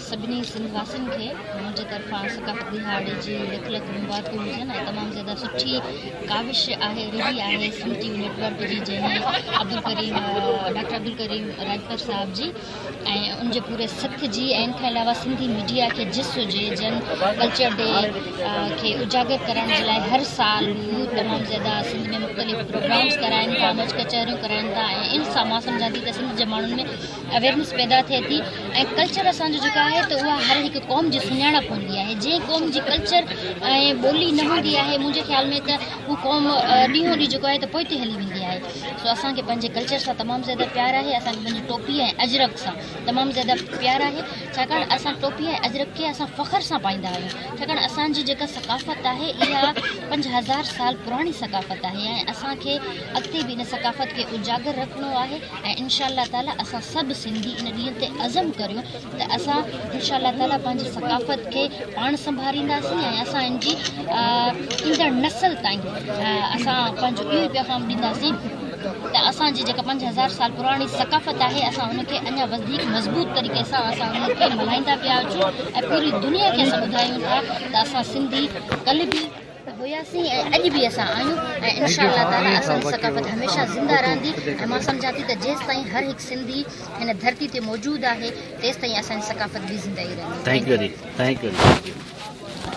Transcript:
سڀني سنڌ واسين کي منهنجي طرفان ثقافت ڏهاڙي جي لک لک مبارڪون هجن ۽ تمام زياده سٺي ڪاوش آهي رهي آهي Sindh T V network جي جنهن عبدالڪريم ڊاڪٽر عبدالڪريم راجپر صاحب جي ۽ ان جي پوري سٿ جي ۽ ان کان علاوه سنڌي ميڊيا کي جس هجي جن ڪلچر ڊي کي اجاگر ڪرڻ جي لاء هر سال هو تمام زياده سنڌ ۾ مختلف پروگرامز ڪرائين ٿا مچ ڪچهريون ڪرائين ٿا ۽ ان سان مان سمجهان ٿي ته سنڌ جي ماڻهن ۾ اويرنس پيدا ٿئي ٿي ۽ ڪلچر اسان جو جيڪا آهي ته اها هر هڪ قوم جي سڃاڻپ هوندي آهي جي قوم جي ڪلچر ۽ ٻولي نه هوندي آهي منهنجي خيال ۾ ته هو قوم ڏينهون ڏينهن جيڪو آهي ته پوئتي هلي ويندي آهي سو اسان کي پنهنجي ڪلچر سان تمام زياده پيار آهي اسان کي پنهنجي ٽوپي ۽ اجرڪ سان تمام زياده پيار آهي ڇاڪاڻ اسان ٽوپي ۽ اجرڪ کي اسان فخر سان پائيندا آهيون ڇاڪاڻ اسان جي جيڪا ثقافت آهي اها پنج هزار سال پراڻي ثقافت آهي ۽ اسان کي اڳتي به ان ثقافت کي اجاگر رکڻو آهي ۽ انشاء الله تعالي اسان سڀ سنڌي ان ڏينهن تي عزم ڪريون ته اسان انشاء الله تعالي پنهنجي ثقافت کي پاڻ سنڀارينداسين ۽ اسان ان جي ايندڙ نسل تائين اسان پنهنجو اهو پيغام ڏينداسين ته اسان جي جيڪا پنج هزار سال پراڻي ثقافت آهي اسان ان کي اڃا وڌيڪ مضبوط طريقي سان اسان ان کي ملهائيندا پيا اچون ۽ پوري دنيا کي اسان ٻڌايون ٿا ته اسان سنڌي ڪلهه به هياسين ۽ اڄ به اسان آهيون ۽ انشاء الله تعالي اسان جي ثقافت هميشه زنده رهندي ۽ مان سمجهان ٿي ته جيستائين هر هڪ سنڌي هن ڌرتي تي موجود آهي تيستائين اسان جي ثقافت به زنده ئي رهندي